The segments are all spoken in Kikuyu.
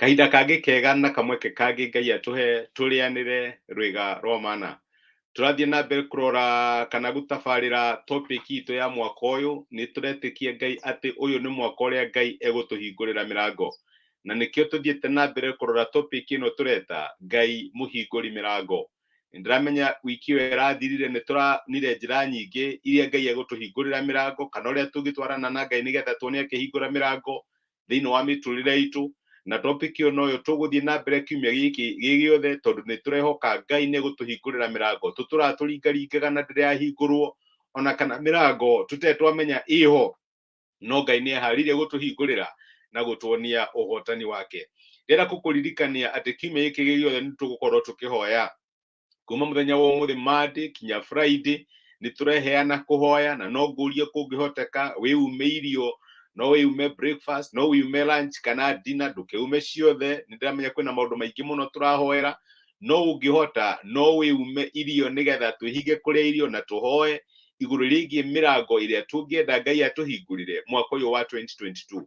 kahinda kangĩ kega na kamweke kangĩ ngai atũhe tũrĩanĩre rwĩga rwa mana tũrathiĩ na mbere kũrora kana gũtabarĩra topic itũ ya mwaka ũyũ nĩ tũretĩkia ngai atĩ ũyũ nĩ mwaka ũrĩa ngai egũtũhingũrĩra mĩrango na nĩkĩo tũthiĩte na mbere kũrora topic ĩno tũreta ngai mũhingũri mĩrango ndĩramenya wiki ĩyo ĩrathirire nĩ tũronire njĩra nyingĩ iria ngai egũtũhingũrĩra mĩrango kana ũrĩa tũngĩtwarana na ngai nĩgetha tuone akĩhingũra mĩrango thĩinĩ wa mĩtũrĩre itũ na topic ĩyo noyo tũgũthiĩ na mbere kiumia gĩkĩ gĩ gĩothe tondũ nĩ tũrehoka Ngai nĩ gũtũhingũrĩra mĩrango tũtũraga tũringaringaga na ndĩrahingũrwo ona kana mĩrango tũtarĩ twamenya ĩho no Ngai nĩ eharĩirie gũtũhingũrĩra na gũtuonia ũhotani wake ndĩrenda gũkũririkania atĩ kiumia gĩkĩ gĩ gĩothe nĩ tũgũkorwo tũkĩhoya kuma muthenya wa umuthi Monday kinya Friday nĩ tũreheana kũhoya na no ngũrie kũngĩhoteka wĩume irio no wĩume breakfast no wĩume lunch kana dinner ndũkĩume ciothe nĩ ndĩramenya kwĩna maũndũ maingĩ mũno tũrahoera no ũngĩhota no wĩume irio nĩgetha twĩhinge kũrĩa irio na tũhoe igũrũ rĩgiĩ mĩrango ĩrĩa tũngĩenda ngai atũhingũrĩre mwaka ũyũ wa 2022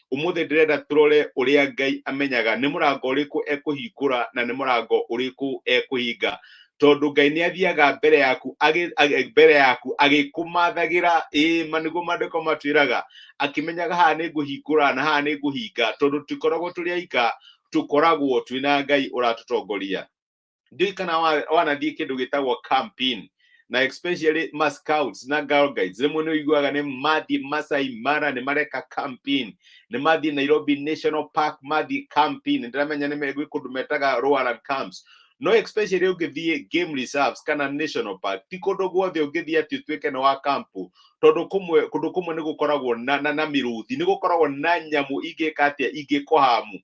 umuthi ndirenda turore uria ngai amenyaga ni murango uriku ekuhingura na ni murango uriku ekuhinga tondu ngai ni athiaga mbere yaku agi- agi- mbere yaku agikumathagira ii maniguo mandiko matwiraga akimenyaga haha ni nguhingura na haha ni nguhinga tondu tikoragwo turi aika tukoragwo twina ngai uratutongoria ndiũĩ kana wa- wanathiĩ kĩndũ gĩtagwo campaign na especially ma scouts na girl guides rĩmwe nĩ ũiguaga nĩ mathiĩ Masai Mara nĩ mareka campaign nĩ mathiĩ Nairobi National Park mathiĩ campaign ndiramenya nĩ me- gwĩ kũndũ metaga Roaran camps no especially ũngĩthiĩ game reserves kana national park ti kũndũ guothe ũngĩthiĩ atĩ ũtuĩke nĩ wa kampu tondũ kũmwe kũndũ kũmwe nĩ gũkoragwo na, na, na mĩrũthi nĩ gũkoragwo na nyamũ ingĩka atĩa ingĩkũhamu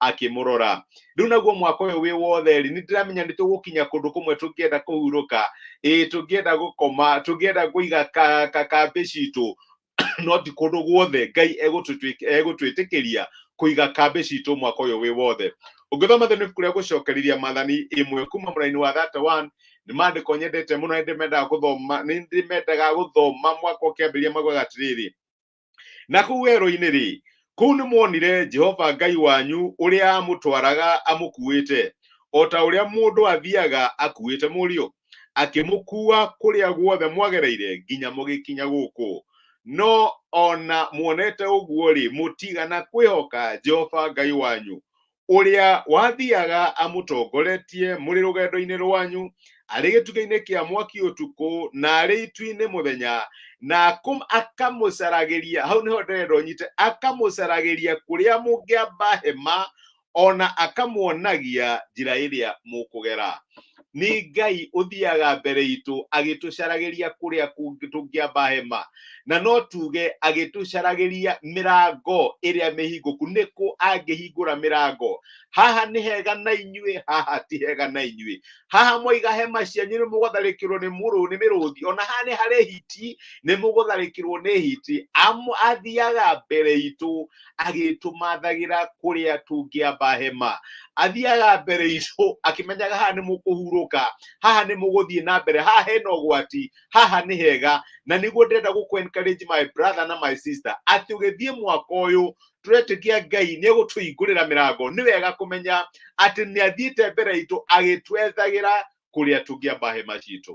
akimurora riu naguo mwaka uyu wi wothe ri nindiramenya ni tugukinya kundu kumwe tungienda kuhuruka ii tungienda gukoma tungienda kuiga ka- ka- kambi citu no ti kundu guothe ngai egutwitikiria kuiga kambi citu mwaka uyu wi wothe ũngĩthoma thĩinĩ ibuku rĩa gũcokereria mathani ĩmwe kuma mũraini wa 31 nĩ mandĩko nyendete mũno nĩ ndĩmendaga gũthoma nĩ ndĩmendaga gũthoma mwaka ũkĩambĩrĩria maugaga atĩrĩrĩ na kũu werũ-inĩ rĩ kũu nĩ mwonire jehova ngai wanyu ũrĩa amũtwaraga amũkuĩte o ta ũrĩa mũndũ athiaga akuĩte mũriũ akĩmũkua kũrĩa guothe mwagereire nginya mũgĩkinya gũkũ no ona muonete ũguo rĩ mũtigana kwĩhoka jehova ngai wanyu ũrĩa wathiaga amũtongoretie mũrĩ rũgendo-inĩ rwanyu arĩ gĩtugĩ-inĩ kĩa mwaki ũtukũ na arĩ itu-inĩ mũthenya na akũm- akamũcaragĩria hau nĩho ndĩrenda ũnyite akamũcaragĩria kũrĩa mũngĩamba hema ona akamuonagia njĩra ĩrĩa mũkũgera nĩ ngai ũthiaga mbere itũ agĩtũcaragĩria kũrĩa kũngĩ tũngĩamba hema na no tuge agĩtũcaragĩria mĩrango ĩrĩa mĩhingũku nĩkũ angĩhingũra mĩrango haha nĩ hega na inyuĩ haha ti hega na inyuĩ haha mwaiga hema cianyu nĩ mũgũtharĩkĩrwo nĩ mũrũ nĩ mĩrũthi ona haha nĩ harĩ hiti nĩ mũgũtharĩkĩrwo nĩ hiti Amu- athiaga mbere itũ agĩtũmathagĩra kũrĩa tũngĩamba hema athiaga mbere itũ akĩmenyaga haha nĩ mũkũhurũka haha nĩ mũgũthiĩ na mbere haha hena ũgwati haha nĩ hega na nĩguo ndĩrenda gũkũ encourage my brother na my sister atĩ ũgĩthiĩ mwaka ũyũ tũretĩkia ngai nĩ egũtũhingũrĩra mĩrango nĩ wega kũmenya atĩ nĩ athiĩte mbere itũ agĩtwethagĩra kũrĩa tũngĩamba hema citũ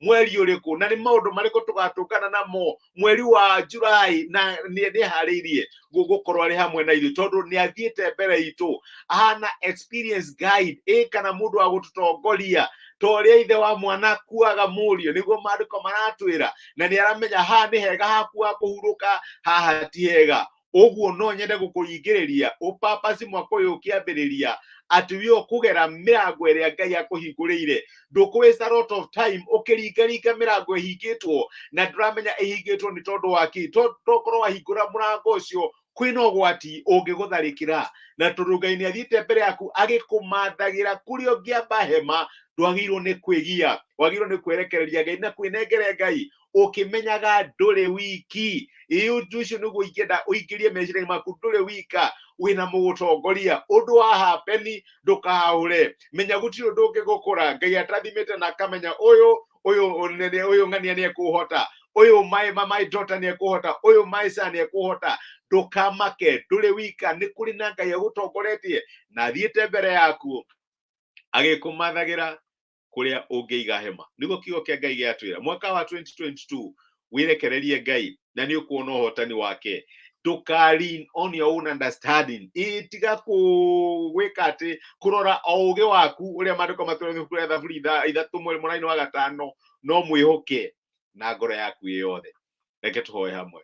mweri ũrĩkũ na nĩ maũndũ marĩkũ tũgatũngana namo mweri wa jurai na nĩ ndĩharĩirie gũ- gũkorwo arĩ hamwe na ithuĩ tondũ nĩ athiĩte mbere itũ ahana experience guide ĩ kana mũndũ wa gũtũtongoria ta ũrĩa ithe wa mwana akuaga mũriũ nĩguo maandĩko maratwĩra na nĩ aramenya haha nĩ hega haku ha kũhurũka haha ti hega ũguo no nyende gũkũringĩrĩria ũpapaci mwaka ũyũ ũkĩambĩrĩria atĩ wĩ ũkũgera mĩrango ĩrĩa ngai akũhingũrĩire ndũkũwĩsta lot of time ũkĩringaringa mĩrango ĩhingĩtwo na ndũramenya ĩhingĩtwo nĩ tondũ wa kĩ To- tokorwo wahingũra mũrango ũcio kwĩna ũgwati ũngĩgũtharĩkĩra na tondũ ngai nĩ athiĩte mbere yaku agĩkũmathagĩra kũrĩa ũngĩamba hema ndwagĩrĩirwo nĩ kwĩgia wagĩrĩirwo nĩ kwerekereria ngai na kwĩnengere ngai ukimenyaga nduri wiki ii undu ucio niguo ingenda uingirie meciria maku nduri wika wina mugutongoria undu wa hapeni ndukahure menya gutiri undu ungigukura ngai atathimite na akamenya uyu uyu uyu ng'ania niekuhota uyu my, my, my daughter niekuhota uyu my son niekuhota ndukamake nduri wika ni kuri na ngai agutongoretie na athiite mbere yaku agikumathagira kuria ungiiga hema niguo kiugo kia ngai giatwira mwaka wa 2022 wirekererie ngai na ni ukuona uhotani wake nduka lean on your own understanding itiga kuwika ati kurora o ugi waku uria mandiko matwira ibuku ria thaburi itha- ithatu mweri muraini wa gatano no mwihoke na ngoro yaku ĩ yothe reke tũhoe hamwe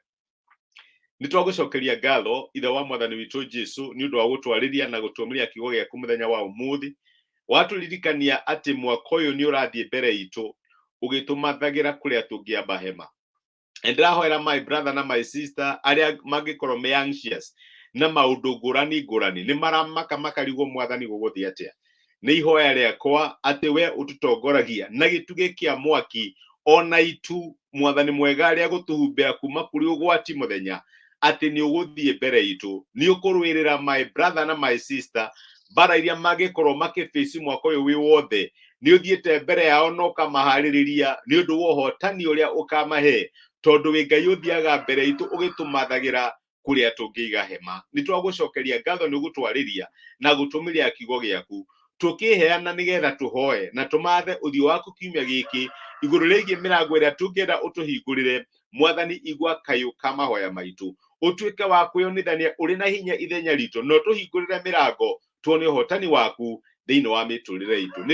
nĩ twagũcokeria ngatho ithe wa mwathani witũ jesu nĩ ũndũ wa gũtwarĩria na gũtuomeria kiugo gĩaku mũthenya wa ũmũthĩ watũririkania atĩ mwaka ũyũ nĩ ũrathiĩ mbere itũ ũgĩtũmathagĩra kũrĩa tũngĩamba hema And ndĩrahoera my brother na my sister arĩa mangĩkorwo me anxious na maũndũ ngũrani ngũrani nĩ maramaka makarigwo mwathani gũgũthiĩ atĩa nĩ ihoya rĩakwa atĩ we ũtũtongoragia na gĩtugĩ kĩa mwaki ona itu mwathani mwega rĩa gũtũhumbĩra kuma kũrĩ ũgwati mũthenya atĩ nĩ ũgũthiĩ mbere itũ nĩ ũkũrũĩrĩra my brother na my sister mbara iria mangĩkorwo makĩbĩci mwaka ũyũ wĩ wothe nĩ ũthiĩte mbere yao na ũkamaharĩrĩria nĩ ũndũ wa ũhotani ũrĩa ũkamahe tondũ wĩ ngai ũthiaga mbere itũ ũgĩtũmathagĩra kuria tungiiga hema ni twagucokeria ngatho ni gutwariria na gutumiria kiugo giaku tukiheana nigetha tuhoe na tumathe uthio waku kiumia giki iguru rigie mirango iria tungienda utuhingurire mwathani igwa kayu ka mahoya maitu utuike wa kwiyonithania uri na hinya ithenya ritu no tuhingurire mirango tuone uhotani waku thiini wa miturire itu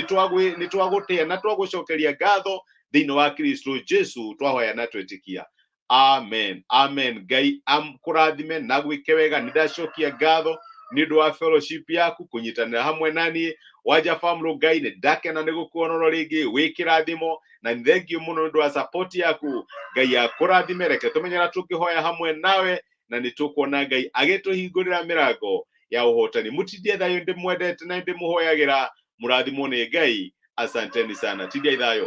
ni twagutia na twagucokeria ngatho thiini wa kristo jesu twahoya na twitikia amen amen ngai amkũrathime na gwĩke wega nĩ ndacokia ngatho nĩ ũndũ wa fellowship yaku kũnyitanĩra hamwe naniĩ wanja famũlũ ngai nĩ ndakena nĩ gũkuonoro rĩngĩ wĩ kĩrathimo na nĩ thengiũ mũno nĩ ũndũ wa support yaku ngai akũrathime reke tũmenyera tũngĩhoya hamwe nawe na nĩ tũkuona ngai agĩtũhingũrĩra mĩrango ya ũhotani mũtindie thayũ ndĩmwendete na ndĩmũhoyagĩra mũrathimwo nĩ ngai asanteni sana tindiai thayũ